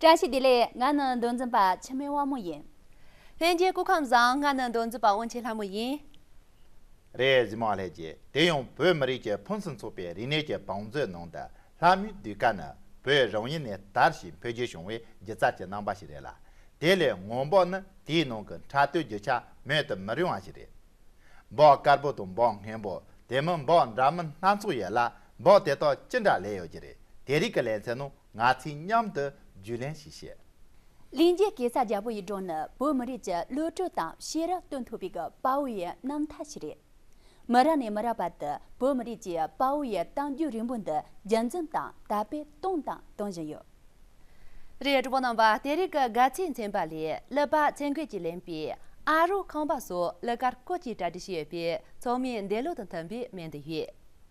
བཀྲ་ཤིས་བདེ་ལེགས་ང་ནི་འདུལ་འཛིན་པ་འཆི་མེད་དབང་མོ་ཡིན། ལྷན་སྐྱེས་སྐུ་ཁམས་བཟང་ང་ནི་འདུལ་འཛིན་པ་དབང་ཆེན་ལྷ་མོ་ཡིན། རེད་གཟིགས་མ་ལྷས་རྗེ་དེ་ཡང་བོད་མི་རིགས་ཀྱི་ཕུན་སུམ་ཚོགས་པའི་རིག་གནས་ཀྱི་བང་མཛོད་ནང་དུ་ལྷ་མོའི་གདུལ་དཀའ་ནི་བོད་རང་ཡུལ་ནས་དར་ཞིང་འཕེལ་རྒྱས་བྱུང་བའི་སྒྱུ་རྩལ་གྱི་རྣམ་པ་ཞིག་རེད་ལ་དེ་ལས་སྔོན་འབོག་ནི་དེའི་ནང་གི་འཕྲལ་བསྟོད་རྒྱུ་ཆ་མེད་དུ་མི་རུང་བ་ཞིག་རེད། འབོག་དཀར་པོ་དང་འབོག་སྔན་པོ་དེ་མིན་འབོག་འདྲ་མིན་སྣ་ཚོགས་ཡོད་ལ་འབོག་དེ་དག་ཅི་འདྲ་ལས་ཡོད་ཀྱི་རེད་དེ་རིགས་ཀྱི་ལན་ཚན་ནང་ང་ཚོས་མཉམ་དུ་རྒྱུས་ལོན་བྱེད་ཤེས། གླིང་རྒྱལ་སྐྱེས་ས་རྒྱ་བོད་ཡིག་འབྲོག་ནི་བོད་མི་རིགས་ཀྱི་བློ་གྲོས་དང་ཤེས་རབ་སྟོན་ཐུབ་པའི་དཔའ་བོ་ཡི་རྣམ་མཐའ་ཞིག་རེད། མི་རག་ནས་མི་རག་བར་དུ་བོད་མི་རིགས་ཀྱི་དཔའ་བོ་ཡི་གཏམ་རྒྱུད་རིང་པོ་འདི་རྒྱུན་འཛིན་དང་དར་སྤེལ་གཏོང་དང་གཏོང་བཞིན་ཡོད། རེད་གྲོགས་པོ་རྣམ་པ་དེ་རིགས་ཀྱི་དགའ་ཚལ་མཚན་པ་ལས་ལི་པ་ཚལ་མགོས་ཀྱིས་ལེན་པའི་ཨ་རོགས་ཁང་པ་སོགས་ལི་ཀར་ཀོ་ཀྱིས་གྲ་སྒྲིག་བྱས་པའི་ཚོགས་མིའི་འདས་ལོ་དང་མཐུན་པའི་སྨན་དུ་ཡོད།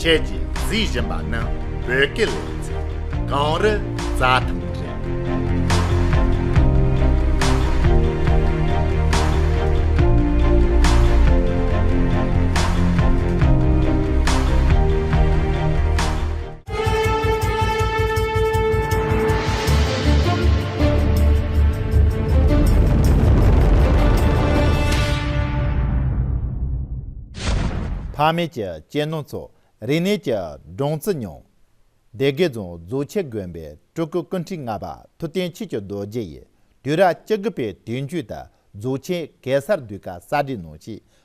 ཁྱེད་ཀྱིས་གཟིགས་བཞིན་པ་ནི་བོད་སྐད་ལས་ཚིག་གངས་རི་རྫ་ཐམ་རེད། ཕ་མེས་ཀྱི་གཅེས་ནོར་ཚོ་རིག་གནས་ཀྱི་སྦྲང་རྩི་མྱོང། སྡེ་དགེ་རྫོང་རྫོགས་ཆེན་དགོན་པའི་སྤྲུལ་སྐུ་ཀུན་ཁྲི་ལྔ་པ་ཐུབ་བསྟན་ཆོས་ཀྱི་རྡོ་རྗེ་ཡིས་དུས་རབས་བཅུ་དགུ་པའི་དུས་མཇུག་ཏུ་རྫོགས་ཆེན་གེ་སར་འདུས་སྐབས་གསར་བསྒྲིགས་གནང་ཞིང་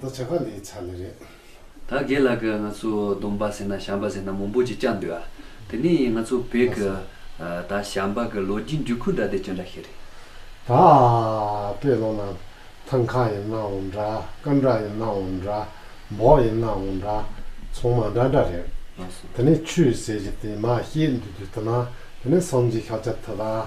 ད་ཇག་ག་ལས་ཚར་ལེ་རེད། ད་རྒན་ལགས་ཀྱི་ང་ཚོའི་སྡོམ་པ་ཟེར་ན་བྱམས་པ་ཟེར་ན་མང་པོ་ཅིག་བཅག་འདུག་ཨ། དེ་ནས་ང་ཚོ་བོད་ཀྱི་ད་བྱམས་པ་གྱི་ལོ་རྒྱུས་འཇུག་ཁུལ་འདྲ་དེ་ཅི་འདྲ་ཞིག་རེད། ད་དཔེ་ལོ་ན་ཐང་ཁ་ཡིན་ནའང་འདྲ་སྐར་འདྲ་ཡིན་ནའང་འདྲ་འབོག་ཡིན་ནའང་འདྲ་ཚོང་མ་འདྲ་འདྲ་རེད། དེ་ནས་ཆུ་ཟེར་གྱི་དེ་མ་ཤེས་འདུག་དུས་ད་ན་དེ་ནས་སངས་རྒྱས་ཤཱཀྱ་ཐུབ་ཨ།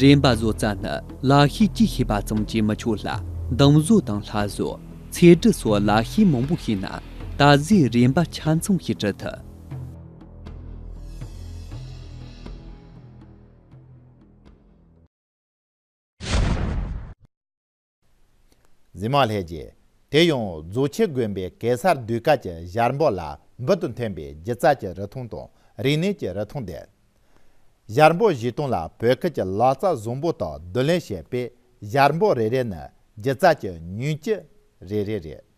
རིམ་པ་བཟོ་རྩལ་ནི་ལག་ཤེས་ཀྱིས་ཤེས་པ་ཙམ་གྱིས་མི་ཆོག་ལ་གདུང་བཟོ་དང་ལྷ་བཟོ། ཚེ་འབྲི་སོགས་ལག་ཤེས་མང་པོ་ཤེས་ན་ད་གཟོད་རིམ་པ་ཆ་མཚུངས་ཤིག་བྲི་ཐུབ། འཛིན་མ་ལྷས་རྗེ། དེ་ཡང་རྫོགས་ཆེན་དགོན་པའི་གེ་སར་གདུལ་དཀའ་གྱི་ཞལ་འབོག་ལ་འབུལ་དུ་འཐེན་པའི་སྒྱུ་རྩལ་གྱི་རི་ཐུང་དང་རིག་གནས་ཀྱི་རི་ཐུང་ལྡན། ཞལ་འབོག་བཞི་སྟོང་ལ་བོད་ཁུལ་གྱི་ལག་རྩལ་བཟང་པོ་དག་བསྡུ་ལེན་བྱས་པས་ཞལ་འབོག་རེ་རེ་ནི་སྒྱུ་རྩལ་གྱི་ཉིང་བཅུད་རེ་རེ་རེད།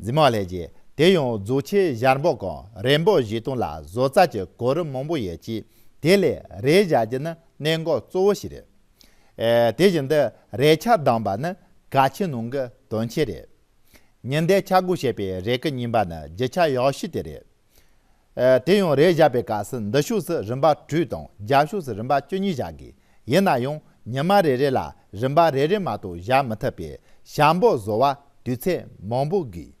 འཛིན་མ་ལས་ཀྱི་དེ་ཡང་རྫོགས་ཆེན་གཞར་འབོག་གམ་རེས་འབོག་བཞི་སྟོང་ལ་བཟོ་རྩལ་གྱི་གོ་རིམ་མང་པོ་ཡོད་ཅིང་དེ་ལས་རེས་གཞར་རྒྱུ་ནི་གནད་འགག་གཙོ་བོ་ཞིག་རེད། དེ་བཞིན་དུ་རེས་ཆ་བསྡམས་པ་ནི་གལ་ཆེན་ནང་གི་དོན་ཆེན་རེད། ཉི་ཟླའི་ཆ་སྒོ་ཞེས་པའི་རེས་ཀྱི་རྙིང་པ་ནི་བརྗིད་ཆ་ཡག་ཤོས་དེ་རེད། དེ་ཡང་རས་བཞག་པའི་སྐབས་སུ་འདི་ཕྱོགས་སུ་རིམ་པ་དྲུག་དང་རྒྱབ་ཕྱོགས་སུ་རིམ་པ་བཅུ་གཉིས་བཞག་དགོས། ཡིན་ན་ཡང་ཉི་མ་རེ་རེ་ལ་རིམ་པ་རེ་རེ་མ་གཏོགས་བཞག་མི་ཐུབ་པས་ཞང་པོ་བཟོ་བར་དུས་ཚོད་མང་པོ་དགོས།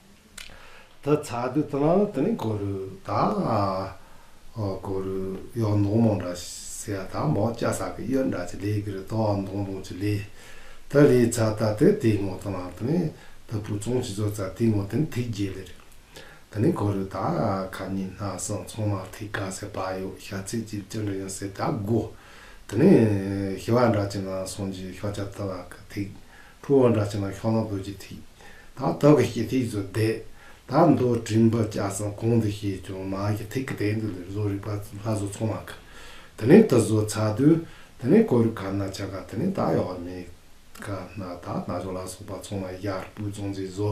ད་ཚ་དུས་ད་ལང་དེ་ནི་གོ་རུ་ད་གོ་རུ་གཡོག་མདོང་མོ་འདྲ་ཟེར་ཡ་ད་མོ་སྐྱ་ས་གི་གཡོ་འདྲ་ཅི་ལེ་གི་རི་དོག་གཡོག་མདོང་མོ་ཅི་ལེ་ད་ལེ་ཚ་ད་དེ་དེ་ངོ་ད་ལང་དེ་ནི་ད་བུ་ཚོང་ཅི་ཚོ་ཚ་དེ་ངོ་དེ་ནི་ཐིག་རྒྱལ་ལེ་རེད་ད་ནི་གོ་རུ་ད་ཁ་ཉིན་སྣ་སང་ཚོང་མ་ཐིག་ག་ཟེར་བ་ཡོག་ཤ་ཚིག་ཅིག་ཅི་འདྲ་ཡོན་ཟེར་ད་གོ་དེ་ནི་ཤི་བ་འདྲ་ཅི་ནང་སང་གི་ཤོག་ཆ་ད་བ་གི་ཐིག་ཕུ་བོ་འདྲ་བྱས་ན་ཤོག་ལོང་བོད་ཀྱི་ཐིག། དང་ཐོག་གི་སྐྱེ་ཐིག་ཚོ་བསྡད། ད་མདོ་དྲིན་བབ་སྐྱ་སང་གོང་དུ་བཤད་བྱུང་མ་ཀྱི་ཐིག་གི་སྟེང་དུ་ལས་བཟོ་རིག་པ་ལྷ་བཟོ་ཚོང་བ་ག་དེ་ནས་དུ་བཟོ་ཚ་དུས་དེ་ནས་ཀོ་རུ་ག་ན་ཆ་ག་དེ་ནས་ད་ཡོག་མེ་ག་ན་ད་ན་ཅོག་ལ་སོགས་པ་ཚོང་བ་ཡར་སྤུས་ཚོང་རྫས་བཟོ།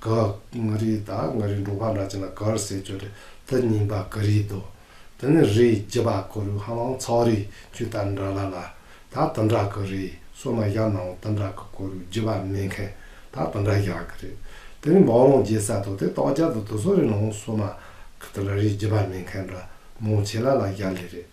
ག་ང་རི་ད་ང་རི་འབྲོག་པ་འདྲ་ཅན་ལ་གར་ཟེར་ཁྱོད་རི་ད་རྙིང་པ་ག་རི་དོ་དེ་ནི་རི་བརྒྱད་པ་གོ་རུ་ཧ་ལང་ཚའོ་རི་ཁྱོད་ད་འདྲ་ལ་ལ་ད་ད་འདྲ་ག་རི་སོ་མ་བཞག་ནའོ་ད་འདྲ་ག་གོ་རུ་བརྒྱད་པ་མེད་མཁན་ད་ད་འདྲ་བཞག་གི་རེད་དེ་ནི་འབའ་ལོང་རྒྱལ་ས་དོ་དེ་ཏོག་རྒྱལ་དུ་དུ་སོ་རི་ནའོ་སོ་མ་ག་ད་འདྲ་རི་བརྒྱད་པ་མེད་མཁན་འདྲ་མོ་བྱེད་ལ་ལ་བཞག་ལེ་རེད།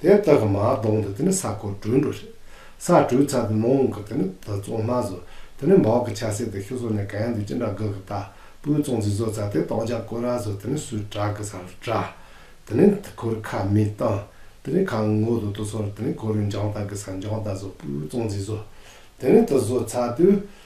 དེ་དག་གི་མ་གདོང་དུ་དེ་ནི་ས་ཁོ་སྦྲུལ་འགྲོ་ཞིང། ས་སྦྲུལ་ཚ་དེ་མོ་འོང་གི་དེ་ནི་དེ་བཙོང་མ་བཟོ། དེ་ནི་འབའ་གི་ཆ་སེ་དེ་ཤུ་བཟོ་ནས་ག་ཡང་དུ་ཅི་འདྲ་གི་གི་ད་པུའི་བཙོང་ཚིག་བཟོ་ཚ་དེ་སྟོང་ཆ་ཀོ་ར་བཟོ་དེ་ནི་སུའི་བྲག་གི་སར་བྲ། དེ་ནི་དེ་ཁོར་ཁ་མི་བཏང། དེ་ནི་ཁ་ངོ་དུ་དུ་སོར་དེ་ནི་ཁོ་རུ་འཇང་ད་གི་སར་འཇང་ད་བཟོ་པུའི་བཙོང་ཚིག་བཟོ། དེ་ནི་དེ་བཟོ་ཚ་དུས།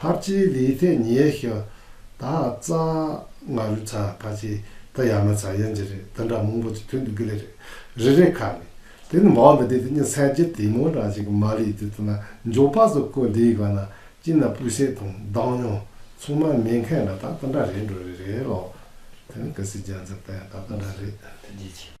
ཕར་ཕྱིའི་ལིའི་ཐེ་ཉེ་ཤོ་ད་ཙ་ང་རུ་ཚ་ཕར་ཕྱི་ད་ཡ་མ་ཚ་ཡན་ཇི་རེ་ད་འདྲ་མང་པོ་ཅིག་ཐོན་འདུག་གི་རེད་རེ་རེ་ཁ་ནས་དེ་ནི་འབའ་འདི་དེ་དེ་ཉིད་ཚད་བརྒྱད་དེ་མོ་འདྲ་ཅིག་མ་ལིའི་དེ་དེ་ན་འཇོག་པ་སོགས་ཀོ་འདིའི་ག་ན་ཅི་ན་སྤུས་ཚད་དང་བདག་ཉོ་ཚོང་མ་མེད་མཁན་ལ་ད་ད་འདྲ་རེད་འགྲོ་རེ་རེད་ལོ། དེ་ནི་ག་སི་རྒྱ་མཚན་པས་ད་ད་འདྲ་རེད།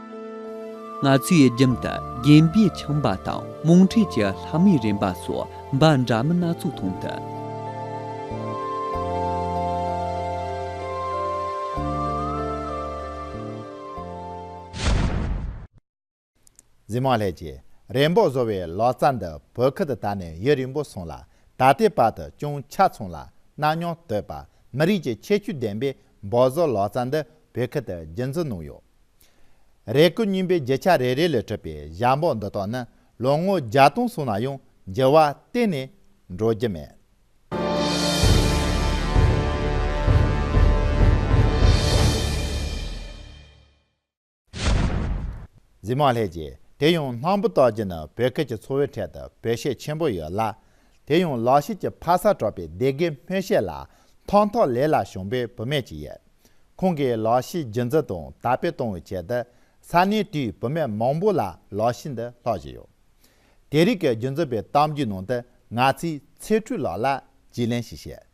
ང་ཚོའི་རྒྱུན་དུ་རྒན་པའི་ཁྱིམ་པ་དང་རྨོངས་འཁྲིད་ཀྱི་ལྷ་མིའི་རེ་འབའ་སོགས་འབའ་འདྲ་མིན་སྣ་ཚོགས་མཐོང་ཐུབ། འཛིན་མ་ལྷས་ཀྱི་རེ་འབོད་བཟོ་བའི་ལག་རྩལ་འདི་བོད་ཁུལ་དུ་ད་ནས་ཡུན་རིང་པོ་སོང་ལ་ད་ལྟའི་བར་དུ་ཅུང་ཆ་ཚང་ལ་གནའ་མྱོང་བསྟོད་པ་མི་རིགས་ཀྱི་ཁྱད་ཆོས་ལྡན་པའི་འབོད་བཟོ་ལག་རྩལ་འདི་བོད་ཁུལ་དུ་རྒྱུན་འཛིན་གནང་ཡོད། རེ་སྐུལ་སྙིང་པོའི་བརྒྱུད་ཆ་རེ་རེ་ལས་གྲུབ་པའི་ཞབས་འབོག་འདི་དག་ནི་ལོ་ངོ་བརྒྱ་སྟོང་སོང་ན་ཡང་འགྱུར་བ་གཏན་ནས་འགྲོ་རྒྱུ་མེད། གཟིགས་མ་ལྷས་ཀྱིས་དེ་ཡང་སྣང་བུ་བཏགས་རྒྱུ་ནི་བོད་སྐད་ཀྱི་ཚོ་བོའི་གྲལ་དུ་བོད་གཤེད་ཆེན་པོ་ཡོད་ལ། དེ་ཡང་ལག་ཤེས་ཀྱི་ཕ་ས་གྲགས་པའི་སྡེ་དགེའི་སྨོན་བཤད་ལ་ཐོག་ཐོག་ལེ་ལ་བྱུང་པའི་བུད་མེད་ཅིག་ཡོད། ཁོང་གིས་ལག་ཤེས་རྒྱུན་འཛིན་དང་དར་སྤེལ་གཏོང་བའི་ཆེད་དུ་ས་གནས་དེའི་བུད་མེད་མང་པོ་ལ་ལག་ཤེས་འདི་སློག་བཞིན་ཡོད། དེ་རིགས་ཀྱི་རྒྱུན་འཛིན་པའི་གཏམ་རྒྱུད་ནང་དུ་ང་ཚོས་ཚེ་ཁྲུས་ལགས་ལ་རྗེས་ལན་ཞིག་བཤད།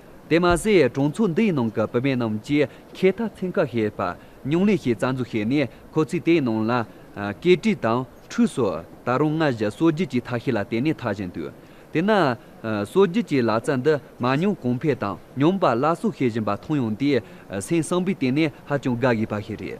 དེ་མ་ཟད་གྲོང་ཚོ་འདིའི་ནང་གི་བུད་མེད་རྣམས་ཀྱིས་ཁེ་མཐའ་ཚན་ཁག་ཤེས་པ། སྙིང་ལས་ཤེས་རྩ་འཛུགས་བྱས་ནས་ཁོ་ཚོས་དེའི་ནང་ལ། སྐེ་དཀྲིས་དང་ཁྲུས་སོགས་ད་རུང་སྔ་བཞིན་གསོ་རྒྱུ་བཅས་ཐག་ཤེས་ལ་བརྟེན་ནས་འཐག་བཞིན་འདུག་དེས་ན། གསོ་རྒྱུ་བཅས་ལག་རྩལ་འདི་མ་མྱོང་གོང་ཕལ་དང་སྙོམས་པར་སླར་གསོ་བྱེད་བཞིན་པ་མཐོང་ཡོང་དུས་སེམས་གསང་པའི་སྟེང་ནས་ཧ་ཅང་དགའ་དགོས་པ་ཞིག་རེད།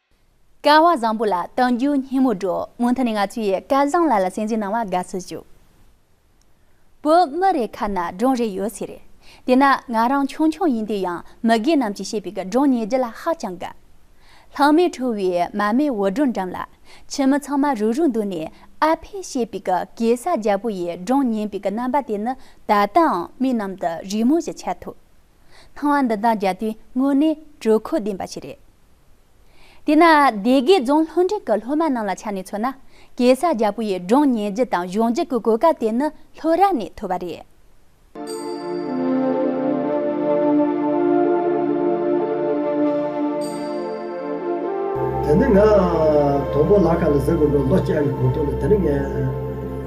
སྐལ་བ་བཟང་པོ་ལ་དོན་བརྒྱུད་སྙིང་མོ་སྒྲོག་མོ་མཐུན་ནས་ང་ཚོ་ཡི་སྐལ་བཟང་ལ་ལ་སེམས་ཅན་སྣང་བ་དགའ་ཚོད་བྱོས། བོད་མི་རེ་ཁ་ན་སྒྲུང་རེ་ཡོད་ཚེ་རེད། དེ་ན་ང་རང་ཆུང་ཆུང་ཡིན་དུས་ཡང་མི་རྒས་རྣམས་ཀྱིས་བཤད་པའི་གི་སྒྲུང་ཉན་རྒྱུ་ལ་ཧ་ཅང་དགའ། ལྷག་མའི་ཁྲོ་བའི་མ་མའི་འུར་སྒྲོག་འགྲམ་ལ། ཁྱིམ་མི་ཚང་མ་རུག་རུག་འདུག་ནས་ཨ་ཕས་བཤད་པའི་གི་གེ་སར་རྒྱལ་པོ་ཡི་སྒྲུང་ཉན་པའི་གི་རྣམ་པ་དེ་ནི་ད་ལྟའང་མིག་ནང་དུ་རི་མོ་བཞིན་འཆར་ཐུབ། སྣང་བ་འདི་དག་རྒྱལ་དུས་དངོས་གནས་དྲོད་ཁོལ་ལྡན་པ་ཞིག་རེད། དེས་ན་སྡེ་དགེ་རྫོང་ལྷུན་འགྲེང་གི་སློབ་མ་རྣམས་ལ་ཆ་ནས་མཚོན་ན་གེ་སར་རྒྱལ་པོ་ཡི་སྒྲུང་ཉན་རྒྱུ་དང་གཞུང་རྒྱུད་ཀྱི་གོ་སྐབས་དེ་ནི་ལྷོད་ར་ནས་ཐོས་པ་རེད། དེ་ནི་ང་དང་པོ་ལ་ཁ་ལ་གཟིགས་དགོས་པའི་ལོ་བརྒྱད་ཀྱི་གོང་དུ་ནི་དེ་ནི་ངའི།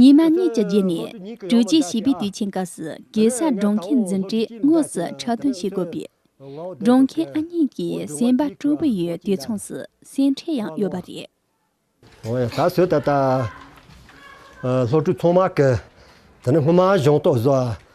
ཉི་མ་གཉིས་ཀྱི་རྗེས་ནས་དྲུག་བཅུའི་བྱིས་པའི་དུས་ཆེན་སྐབས་སུ་གེ་སར་སྒྲོང་མཁན་འཛིན་གྲྭས་དངོས་སུ་ཁྲག་འདོན་བྱེད་དགོས་པས། སྒྲོང་མཁན་ཨ་མྱེས་ཀྱི་སེམས་པ་སྐྲོ་པོ་ཡོད་དུས་མཚུངས་སུ་སེམས་ཁྲལ་ཡང་ཡོད་པ་རེད། ཨོ་ཡ་ད་གཟོད་ད་ལྟ། སློབ་ཕྲུག་ཚང་མ་གི། དེ་ནི་སྔོན་མ་གཞུང་རྟོགས་བཟོ་བ།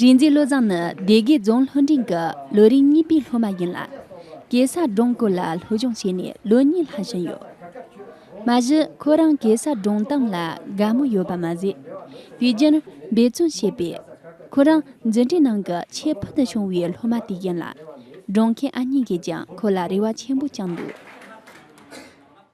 རིག་འཛིན་བློ་བཟང་ནི་སྡེ་དགེ་རྫོང་ལྷོ་འབྲིང་གི་ལོ་རིམ་གཉིས་པའི་སློབ་མ་ཡིན་ལ། གེ་སར་སྒྲུང་སྐོར་ལ་སློབ་སྦྱོང་བྱས་ནས་ལོ་གཉིས་ལྷག་ཕྱིན་ཡོད། མ་གཞི་ཁོ་རང་གེ་སར་སྒྲུང་གཏམ་ལ་དགའ་མོས་ཡོད་པ་མ་ཟད། དུས་རྒྱུན་འབད་བརྩོན་བྱས་པས། ཁོ་རང་འཛིན་གྲྭའི་ནང་གི་ཆེས་ཕུལ་དུ་བྱུང་བའི་སློབ་མ་དེ་ཡིན་ལ། སྒྲུང་མཁན་ཨ་མྱེས་ཀྱིས་ཀྱང་ཁོ་ལ་རེ་བ་ཆེན་པོ་བཅངས་འདུག།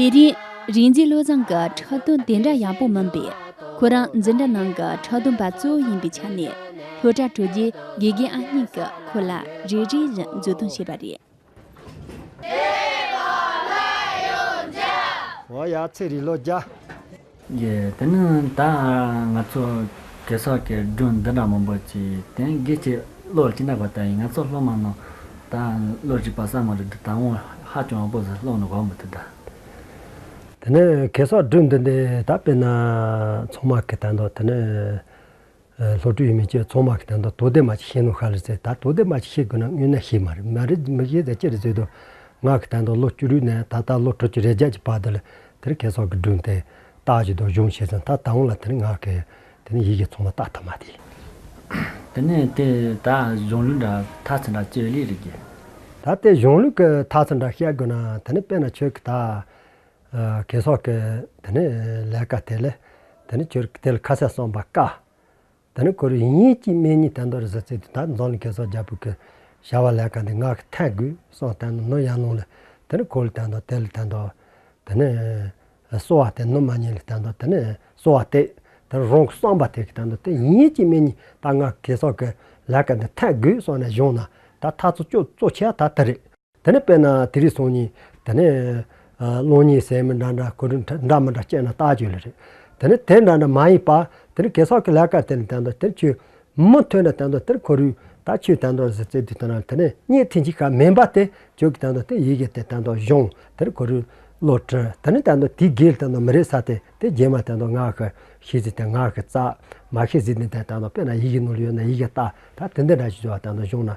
དེ་རིང་རིག་འཛིན་བློ་བཟང་གི་ཁྲག་འཐུང་དེ་འདྲ་ཡག་པོ་མིན་པས་ཁོ་རང་འཛིན་གྲྭ་ནང་གི་ཁྲག་འཐུང་པ་གཙོ་བོ་ཡིན་པའི་ཆ་ནས་ལྷོ་བྲག་དྲུག་རྒྱུའི་དགེ་རྒན་ཨ་སྙིང་གིས་ཁོ་ལ་རེ་རེ་བཞིན་མཛུབ་སྟོན་བྱས་པ་རེད། བོད་ཡིག་ལོ་བརྒྱ། དེ་ནི་ད་ང་ཚོ་གེ་སར་གྱི་སྒྲུང་འདི་འདྲ་མང་པོ་ཅི་དེ་འགའི་ཆེད་བློ་ཅི་འདྲ་བ་ལྟ་ཡིན་ང་ཚོ་སློབ་མ་རྣམས་ད་བློ་ཅི་བ་ས་མ་རེད་འདི་ད་ངོ་ཧ་ཅང་བ་པོ་ཟེར་སློང་ནི་གོ་མི་ཐུབ་ད། དེ་ནི་གེ་སར་སྒྲུང་འདི་འདི་ད་དཔེར་ན་ཚང་མ་གི་ད་འདོད་དེ་ནི། ལྷོ་སྤྲུལ་ཡུལ་མི་བཅས་ཚོགས་མང་གི་དོན་དང་དོ་དད་མ་ཅིག་ཤེས་ནོ་ཤར་ལེ་ཚེ་ད་དོ་དད་མ་ཅིག་ཤེས་དགོས་ན་དངོས་གནས་ཤེས་མ་རེད་མ་རེད་མི་ཤེས་ཚེ་ཅི་རེད་ཟེར་དུས། ངག་གི་དོན་དང་ལོ་བཅུ་རུའི་ནས་ད་ལྟ་ལོ་དྲུག་ཅུ་རེ་བརྒྱད་ཀྱི་བར་དུ་ལ་དེར་ཁེ་སོག་གི་སྒྲུང་དེ་དག་གི་སྡོད་གཞུང་ཤེས་ཚེ་ད་ད་འོང་ལ་དེ་ནི་ངག་གི་དེ་ནི་ཡིད་ཀྱི་ཚོགས་མ་རྟགས་ཐ་མ་དེ། དེ་ནས་དེ་ད་གཞུང་ལུགས་འདྲ་ཐ་ཚིག་འདྲ་སྤྱི་ལེ་རེ་བརྒྱད། ད་དེ་གཞུང་ལུགས་ཀྱི་ཐ་ཚིག་འདྲ་བཤད་དགོས་ན་དེ་ནི་དཔེར་ན་ཁྱོད་ཀྱི་ད། གས་སོགས་ཀྱི། དེ་ནི་ལས་ཀ་དེ་ལས། དེ་ནི་ཁྱོད་དེ་ལ་ཁ་ཟས་གསོན་པར་དཀའ། དེ་ནི་ཁོ་རེ་ཡིན་ཅིག་སྨན་གཉིས་བསྟན་དོ་རེ་ཟ་ཚེ་དུས་ད་རྫོང་ལ་གས་སོགས་རྒྱ་བོད་ཀྱི། བྱ་བ་ལས་ཀ་འདི་ངག་གི་ཐལ་དགུས་སོགས་བསྟན་ནོ་ནོར་གཡང་ལུང་ལས། དེ་ནི་ཁོ་ལ་བསྟན་ཏོ་དེ་ལ་བསྟན་ཏོ། དེ་ནི། གསོ་བ་དེ་ནོར་མ་གཉིས་ལ་བསྟན་ཏོ་དེ་ནི་གསོ་བ་སྟེ། དེ་ནི་རང་གི་བསམ་པ་དེ་གིས་བསྟན་ཏོ་དེ་ཡིན་ཅིག་སྨན་གཉིས་ད་ངག་གི་གས་སོགས་ཀྱི། ལས་ཀ་འདི་ཐལ་དགུས་སོགས་ནས་བཞུགས་ན་ད་མཐའ་ཚོགས་ཀྱི་གཙོ་ཆེ་བ་ད་དེ་རེད། དེ་ནས་དཔེར་ན་དེ་རིགས་སོང་ཉིན། དེ་ནས། སློང་ཉིན་ཟས་མི་འདྲ་འདྲ་གོས་འདྲ་མི་འདྲ་སྤྱད་ན་རྟགས་བྱོས་ལེ་རེད། དེ་ནས་དེ་འདྲ་འདྲ་མ་ཡིན་པར། དེ་ནི་གེ་སར་གྱི་ལས་ཀ་དེ་ནི་དེ་འདྲ་དེ་ཁྱོད། མི་ཐོས་འདྲ་དེ་འདྲ་དེ་ཁོ་རུས་ད་ཁྱོད་དེ་འདྲ་ཟེར་ཚེ་དེ་དེ་འདྲ་དེ་ནི་གཉིད་ཐེངས་གཅིག་གམ་མིན་པ་དེ་ཁྱོད་ཀྱི་དེ་འདྲ་དེ་ཡི་གེ་དེ་དེ་འདྲ་གཞུང་དེ་ཁོ་རུས། བློ་གྲོས་དེ་ནི་དེ་འདྲ་དེའི་སྒེར་དེ་འདྲ་མི་རེད་ས་དེ་དེ་རྗེས་མ་དེ་འདྲ་ངག་གི་ཤེས་ཚིག་དེ་ངག་གི་རྩ། མ་ཤེས་ཚིག་དེ་འདྲ་དེ་འདྲ་དཔེར་ན་ཡི་གེ་ནོར་ཡོད་ན་ཡི་གེ་ལྟ་ད་དེ་འདི་འདྲ་ཞེས་བྱ་བ་དེ་འདྲ་གཞུང་ན་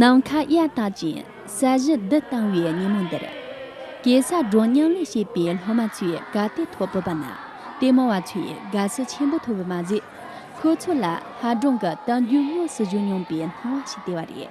ནམ་མཁའ་གཡའ་དག་ཅིང་ས་གཞི་རྡུལ་གཏང་བའི་ཉིན་མོ་འདིར། གེ་སར་སྒྲོ་སྙིང་ལས་བྱས་པའི་སློབ་མ་ཚོས་དགའ་དད་ཐོག་བོད་པ་ནང་བསྟན་མང་བ་ཚོས་དགའ་བསུ་ཆེན་པོ་ཐོབ་པ་མ་ཟད། ཁོ་ཚོ་ལ་ཧ་སྒྲོན་གྱི་གཏམ་རྒྱུད་དངོས་སུ་བཞུགས་མྱོང་པའི་སྣང་བ་ཞིག་སྟེར་བ་རེད།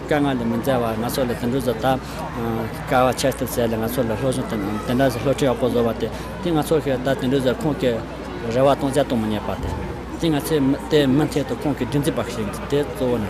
དཀའ་ངལ་ལས་མི་འཛའ་བར་ང་ཚོ་ལ་དུད་འགྲོ་བཟོ་ཐབས། དཀའ་བ་ཆགས་ཐབས་བྱས་ལ་ང་ཚོ་ལ་སློབ་སྦྱོང་དང་དེ་འདྲ་བྱེད་སློབ་ཁྲིད་ཡག་པོ་བཟོ་བ་དེ་དེ་ང་ཚོ་ཞིག་ད་དུད་འགྲོ་བཟོ་ཁོང་གི་རེ་བ་སྟོང་ཆ་གཏོང་མི་ཉན་པ་དེ་དེ་ང་ཚོས་དེ་མི་འཐད་དུ་ཁོང་གི་སྒྲིག་འཛུགས་པ་ཞིག་ཡིན་དེ་གཙོ་བོ་ནི།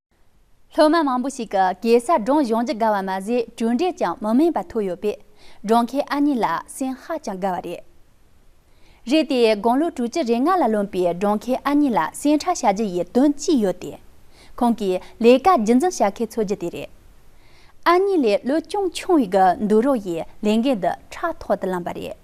སློབ་མ་མང་པོ་ཞིག་གིས་གེ་སར་སྒྲུང་གཞུང་ཇི་དགའ་བ་མ་ཟད་གྲུབ་འབྲས་ཀྱང་མི་དམན་པ་ཐོབ་ཡོད་པས་སྒྲུང་མཁན་ཨ་མྱེས་ལ་སེམས་ཧ་ཅང་དགའ་བ་རེད། རེད་དེ་དགུང་ལོ་དྲུག་ཅུ་རེ་ལྔ་ལ་ལོན་པའི་སྒྲུང་མཁན་ཨ་མྱེས་ལ་སེམས་ཁྲལ་བྱ་རྒྱུ་ཡི་དོན་གཅིག་ཡོད་དེ། ཁོང་གིས་ལས་ཀ་རྒྱུན་འཛིན་བྱ་མཁན་འཚོལ་རྒྱུ་དེ་རེད། ཨ་མྱེས་ལས་བློ་ཅུང་ཆུང་བའི་གི་འདུག་རོགས་ཡིས་ལས་འགན་འདི་ཕྲག་ཐོག་ཏུ་བླངས་པ་རེད།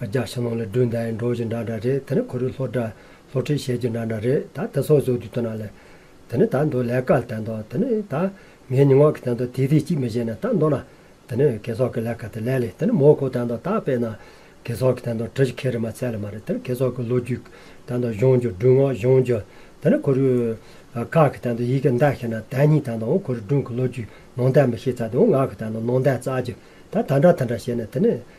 རྒྱ་ཕྱི་ནང་ལས་སྒྲོན་ཟླ་ཡི་འགྲོ་བྱེད་འདྲ་འདྲ་རེད་དེ་ནི་གོ་རིག་ལྷོ་བྲག་ལྷོ་ཁྲིད་ཞལ་གྱི་འདྲ་འདྲ་རེད་ད་དེ་ཚོ་བཟོ་དུས་སྟོན་ན་ལེ། དེ་ནི་ད་མདོ་ལས་ཀ་ལ་བསྟན་ཏོ་དེ་ནི་ད་ངའི་ཉི་ངག་གི་བསྟན་ཏོ་དེ་དེ་གཅིག་མི་བྱེད་ན་ད་མདོ་ན། དེ་ནི་གེ་སོག་གི་ལས་ཀ་དེ་ལས་ལེ་དེ་ནི་མོ་ཁོ་བསྟན་ཏོ་ད་དཔེ་ན། གེ་སོག་གི་བསྟན་ཏོ་གྲི་ཞིག་ཁེ་རི་མ་ཚད་ལ་མ་རེད་དེ་ནི་གེ་སོག་གི་ལོ་རྒྱུས་ཀྱི་བསྟན་ཏོ་གཞུང་རྒྱུད་སྒྲུང་ངག་གཞུང་རྒྱུད་དེ་ནི་གོ་རིག་ཁག་གི་བསྟན་ཏོ་ཡི་གེ་མདའ་ཤེས་ན་དད་སྙིང་བསྟན་ཏོའང་གོ་རིག་སྒྲུང་གི་ལོ་རྒྱུས་ནང་བསྟན་མི་ཤེས་ཚ་དེའང་ངག་གི་བསྟན་ཏོ་ནང་བསྟན་རྩ་རྒྱུད་ད་ད་འདྲ་ད་འདྲ་བྱེད་ན་དེ་ནི་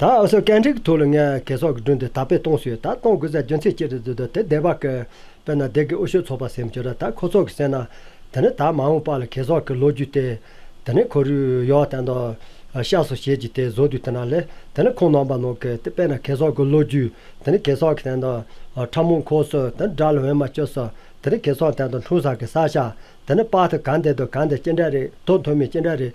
ད་གཟོད་གད་མཁྲེགས་ཐུག་ལ་ངས་གས་སོགས་ཀྱི་སྒྲུང་དེ་དག་པས་སྟོང་ཞུས་ད་གཏོང་དགོས་ཚེ་རྒྱུ་མཚན་ཅི་རེད་ཟེར་དུས་དེ་བདེ་བ་གས། དཔེར་ན་བདེ་གས་འུ་ཤོད་ཚོགས་པ་སེམས་བྱུང་ར་ད་ཁོ་ཚོགས་ཀྱི་སེམས་ན། དེ་ནི་ད་མ་འོངས་པ་ལ་གས་སོགས་ཀྱི་ལོ་རྒྱུས་ཏེ། དེ་ནི་ཁོ་རུས་ཡོ་བ་བསྟན་ཏོ། ཤ་སོགས་བྱེད་ཀྱི་དེ་བཟོ་དུས་དེ་ན་ལས་དེ་ནི་ཁོང་ནོངས་པ་ནོངས་གས་དེ་དཔེར་ན་གས་སོགས་ཀྱི་ལོ་རྒྱུས་དེ་ནི་གས་སོགས་ཀྱི་བསྟན་ཏོ། ཁྲ་མོང་ཁོག་སོས་དེ་ནི་དགྲ་ལ་འོས་མ་སྤྱོད་སོ། དེ་ནི་གས་སོགས་བསྟན་ཏོ་འཁྲུངས་ས་གས་ས་ཤ་དེ་ནི་དཔག་ཏུ་གང་བདེ་དོ་གང་བདེ་ཅི་འདྲ་རེད་དོ་མཐོ་དམན་ཅི་འདྲ་རེད།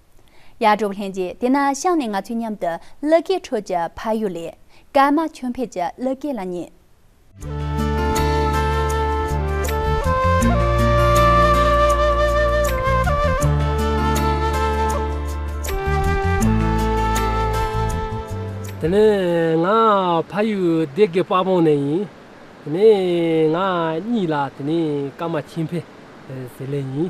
ཡར་འགྲོ་བ་ལྷན་རྒྱས་དེ་ན་ཤངས་ནས་ང་ཚོའི་མཉམ་དུ་གླུ་སྐད་འཕྲོད་ཀྱི་ཕ་ཡུལ་ལས། སྐར་མ་ཁྱོད་ཕེབས་ཀྱི་གླུ་སྐད་ལ་ཉན། དེ་ནས་ང་ཕ་ཡུལ་སྡེ་དགེ་དཔའ་བོང་ནས་ཡིན། དེ་ནས་ང་གཉིས་ལ་དེ་ནས་སྐར་མ་ཁྱིམ་ཕེབས་ཟེར་ལེ་ཡིན།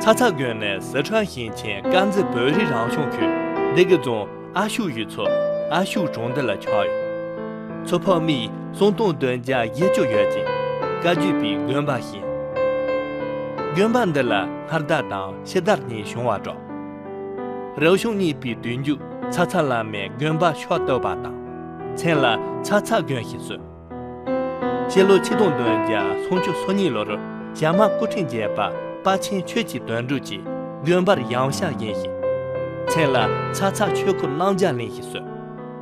ཚ་ཚ་དགོན་ནས་ཟི་ཁྲོན་ཞིང་ཆེན་དཀར་མཛེས་བོད་རིགས་རང་སྐྱོང་ཁུལ་སྡེ་དགེ་རྫོང་ཨ་ཤུག་ཡུལ་ཚོ་ཨ་ཤུག་གྲོང་སྡེ་ལ་ཆགས་ཡོད། ཚོ་ཕག་མིས་སོང་སྟོང་བདུན་བརྒྱ་བརྒྱད་ཅུ་ཡོད་ཅིང་བཀའ་བརྒྱུད་པའི་དགོན་པ་བཞེངས། དགོན་པ་འདི་ལ་སྔར་བདག་དང་ཕྱི་བདག་གཉིས་བྱུང་བར་གྲགས། རབ་བྱུང་གཉིས་པའི་བདུན་རྒྱུད་ཚ་ཚ་བླ་མའི་དགོན་པ་ཕྱོགས་བཏོད་པ་དང། མཚན་ལ་ཚ་ཚ་དགོན་ཞེས་གསོལ། སྤྱི་ལོ་ཆིག་སྟོང་དོན་བརྒྱ་སུམ་ཅུ་སོ་གཉིས་ལོར་ཞྭ་དམར་སྐུ་ཕྲེང་བརྒྱད་པ་དཔའ་ཆེན་ཆོས་ཀྱི་དོན་གྲུབ་ཀྱིས་དགོན་པར་ཡང་ཞྭ་བཞེངས་ཤིང། མཚན་ལ་ཚ་ཚ་ཆོས་འཁོར་བླང་བྱ་གླིང་ཞེས་གསོལ།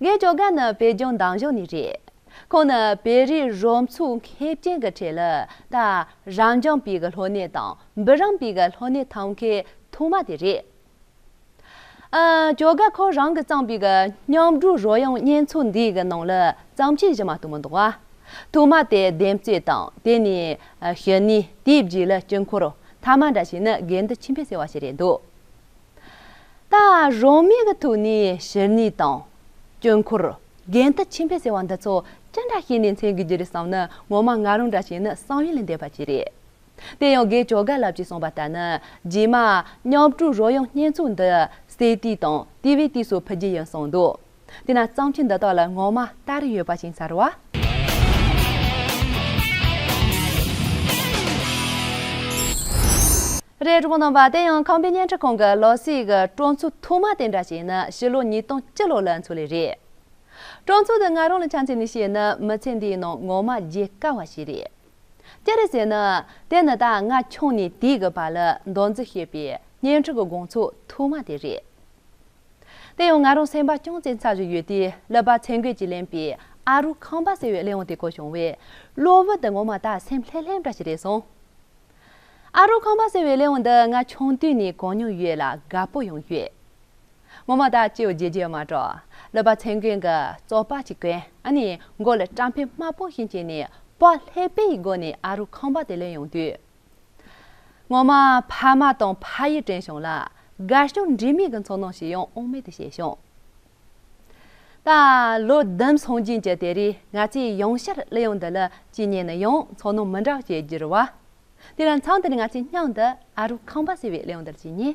ངའི་ཇོ་ག་ནི་བོད་ལྗོངས་འདང་གཞུང་ནས་རེད། ཁོང་ནི་བོད་རིགས་རོམ་ཚུགས་མཁས་ཅན་གྱི་གྲས་ལ་ད་རང་འཇམ་པའི་གི་ལྷོ་སྣེ་དང་འབུ་རམ་པའི་གི་ལྷོ་སྣེ་ཐམ་གའི་ཐུག་མ་དེ་རེད། ཨ་ཇོ་ག་ཁོ་རང་གི་བརྩམས་པའི་གི་མཉམ་སྒྲུག་རོལ་དབྱངས་སྙན་ཚུགས་འདིའི་གི་ནང་ལ་བརྩམས་ཆོས་བཞི་མ་གཏོགས་མི་འདུག་བ། ཐུག་མ་དེ་འདེམས་གསོས་དང་དེ་ནས་ཞུ་ནས་དེའི་རྗེས་ལ་དཀྱིལ་འཁོར་ཐ་མ་འདྲ་ཞིག་ནི་དགེ་འདུན་ཆེན་པོས་གསལ་བ་ཞིག་རེད་འདུག། ལྟ། རང་མི་གི་ཐུགས་ནི་ཞིར་ནི་དང། སྐྱོན་འཁོར། རྒན་ལྟ་ཆེན་པོས་ཟེར་བ་འདི་ཚོ་ཅི་འདྲ་ཤེས་ནས་མཚན་དགོས་རྒྱུ་རེད་བསམ་ན་ངོ་མ་ང་རང་འདྲ་ཞིག་ནི་བསམ་ཡུལ་ལས་འདས་པ་ཅིག་རེད། དེ་ཡང་དགེ་བཅོ་དགའ་ལབ་ཀྱིས་གསུངས་པ་ལྟར་ན་རྗེས་མ། མཉམ་སྤྲུལ་རོལ་དབྱངས་སྙན་ཚུགས་འདི། སའི་དུས་དང་དུས་བའི་དུས་སུ་ཕུལ་རྒྱུ་ཡིན་གསུངས་འདུག། དེས་ན་གཙང་ཆུ་འདི་དག་ལ་སྔོན་མ་ལྟར་རི་ཡོད་པ་ཅིང་ས་རུ་བ། རས་རུང་ནང་པ་དེ་ཡང་ཁམས་པའི་བརྙན་འཕྲིན་ཁང་གི་ལོ་སིའི་གི་གྲོང་ཚོའི་ཐོག་མ་དེ་འདྲ་ཞིག་ནི་ཕྱི་ལོ་ཉིས་སྟོང་བཅུ་ལོ་ལ་འཚོ་ལེ་རེད། གྲོང་ཚོ་འདི་ང་རང་ལ་ཆ་མཚན་ནས་བཤད་ན་མི་ཚེ་འདིའི་ནང་ངོ་མ་བརྗེད་དཀའ་བ་ཞིག་རེད། ཅི་རེད་ཟེར་ན། དེ་ནི་ད་སྔ་ཁྱོན་ནས་དེའི་གི་བ་ལི་མདོ་འཛི་ཞེས་པའི་བརྙན་འཕྲིན་གི་དགོང་ཚོགས་ཐོག་མ་དེ་རེད། དེ་ཡང་ང་རང་སེམས་པ་ཅུང་ཙེ་འཚབ་བཞིན་ཡོད་དུས་ཀླད་པ་ཚད་འགོད་ཀྱིས་ལེན་པའི་ཨ་རུ་ཁང་པ་ཟེར་བའི་གླེང་བ་དེ་གོ་བྱུང་བས་གློ་བུར་དུ་ངོ་མ་ད་སེམས་ལྷེམ་ལྷེམ་འདྲ་ཞིག་རེད་སོང། ཨ་རུ་ཁང་པ་ཟེར་བའི་གླེང་བ་འདི་ང་ཆུང་དུས་ནས་གོ་མྱོང་ཡོད་ལ་དགའ་པོ་ཡང་ཡོད། ངོ་མ་ད་ཅིའོ་རྗེས་རྗེས་མ་གྲོགས་ཀླད་པ་ཚད་འགོད་ཀྱི་ཙོག་པ་ཞིག་གོན་ནས་མགོ་ལ་སྐྲ་འཕེན་དམར་པོ་ཞིག་བྱས་ནས་པགས་ལྷེབ་པའི་སྒོ་ནས་ཨ་རུ་ཁང་པ་དེ་གླེང་ཡོང་དུས། ངོ་མ་ཕ་མ་དང་ཕ་ཡུལ་དྲན་བྱུང་ལ་དགའ་སྐྱོ་འདྲེས་མའི་གི་འཚོ་སྣང་ཞིག་ཡང་དབང་མེད་དུ་བྱས་བྱུང། ད་ལོ་བདུན་སོང་རྗེས་ཀྱི་དེ་རིང་ང་ཚོས་ཡང་བསྐྱར་གླུ་དབྱངས་འདི་ལ་ཅི་ཉན་ན་ཡང་འཚོ་སྣང་མི་འདྲ་བ་སྐྱེས་གྱུར་བ། དེ་ལ་མཚམས་འདིར་ང་ཚོས་སྙིང་འདི་ཨ་རོགས་ཁང་པ་ཟེར་བའི་གླུ་དབྱངས་འདིར་ཅི་ཉན།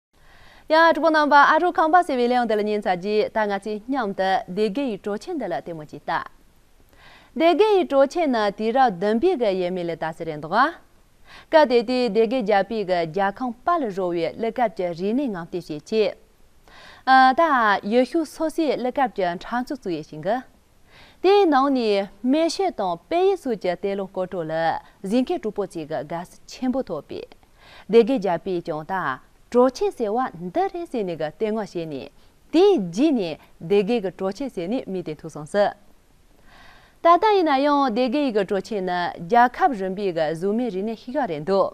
ཡང་ཨ་ཀྲི་པོ་རྣམ་པ་ཨ་རུ་ཁང་པ་ཟེར་བའི་གླེང་འདི་ལ་ཉན་ཚར་རྗེས་ད་ང་ཚོས་མཉམ་དུ་སྡེ་དགེ་ཡི་གྲོ་ཆས་འདི་ལ་ལྟད་མོ་གཅིག་བལྟ། སྡེ་དགེ་ཡི་གྲོ་ཆས་ནི་དུས་རབས་བདུན་པའི་གི་ཡས་མས་ལས་ད་གཟི་རེད་འདུག་ཨ། སྐབས་དེ་དུས་སྡེ་དགེ་རྒྱལ་པོའི་གི་རྒྱལ་ཁང་དཔའ་ལ་རོལ་བའི་གླུ་སྐབས་ཀྱི་རིག་གནས་ངང་བལྟས་ཤེས་ཆེ། ད་ཡུལ་ཤུལ་སོ་སོའི་གླུ་སྐབས་ཀྱི་འཕྲང་ཚུགས་བཙུགས་ཡས་ཤིང་གི། དེའི་ནང་ནས་སྨན་ཤེལ་དང་དཔལ་ཡེ་སུས་ཀྱི་གཏེར་ལོ་སྐོར་བྲོ་ལ་གཟིགས་མཁན་གྲུ་པོ་ཅིག་གི་དགའ་བསུ་ཆེན་པོ་ཐོབ་པས། སྡེ་དགེ་རྒྱལ་པོས་ཀྱང་ད་བྲོ་ཆེན་ཟེར་བ་འདི་རེད་ཟེར་ནས་གཏེར་སྔགས་བཤད་ནས་དེའི་རྗེས་ནས་སྡེ་དགེ་གི་བྲོ་ཆེན་ཟེར་ནས་སྨིན་ཏེ་ཐུག་སོང་ཟིན། ད་ལྟ་ཡིན་ན་ཡང་སྡེ་དགེ་ཡི་གི་བྲོ་ཆེན་ནི་རྒྱལ་ཁབ་རིམ་པའི་གི་གཟུགས་མེད་རིག་གནས་ཤིག་རེད་འདུག།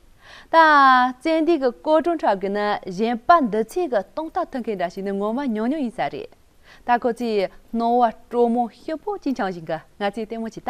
ད་བཙན་དུས་ཀྱི་སྐོར་སྒྲུང་ཁྲོད་ཀྱི་ནི་གཞན་དཔའ་འདི་ཚོས་ཀྱི་སྟོང་རྟགས་མཐོང་མཁན་འདྲ་ཞིག་ནི་ངོ་མ་ཉུང་ཉུང་ཡིན་ས་རེད། ད་ཁོ་ཚོས་སྣང་བ་དྲོ་མོ་ཤི་བོ་གཅིག་འཆང་བཞིན་གྱི་ང་ཚོས་ལྟད་མོ་བྱས་ད།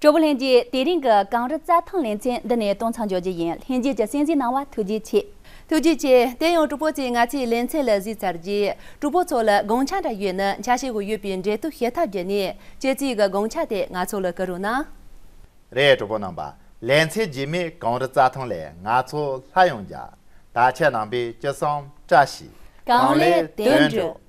དྲོ་བོ་ལྷན་རྒྱས་དེ་རིང་གི་གངས་རི་རྩྭ་ཐང་ལེ་ཚན་འདི་ནས་གཏོང་ཚང་འཇོག་རྒྱུ་ཡིན་ལྷན་རྒྱས་ཀྱི་སྲིད་འཛིན་གནང་བ་ཐུགས་རྗེ་ཆེ། ཐུགས་རྗེ་ཆེ། དེ་ཡང་དྲུག་པོ་བཅས་ང་ཚོའི་ལེ་ཚན་ལ་གཟིགས་ཚར་རྗེས་དྲུག་པོ་ཚོ་ལ་དགོངས་འཆར་འདྲ་ཡོད་ན་འཆར་བྱེད་དགོས་ཡོད་པའི་འབྲེལ་གཏུག་བྱེད་ཐབས་བརྒྱུད་ནས་ཁྱེད་ཚོའི་གི་དགོངས་འཆར་དེ་ང་ཚོ་ལ་བསྐུར་རོགས་གནང། རས་གྲོ་པོ་རྣམས་པ་ལས་མཚལ་རྗེས་མེད་གངས་རི་རྩྭ་ཐང་ལས་ང་ཚོ་ལྷ་ཡོངས་རྒྱ། དར་ཆ་ནང་པའི་སྐྱིད་སྲང་བཀྲ་ཤིས་གངས་ལས་དོན་འགྲུབ།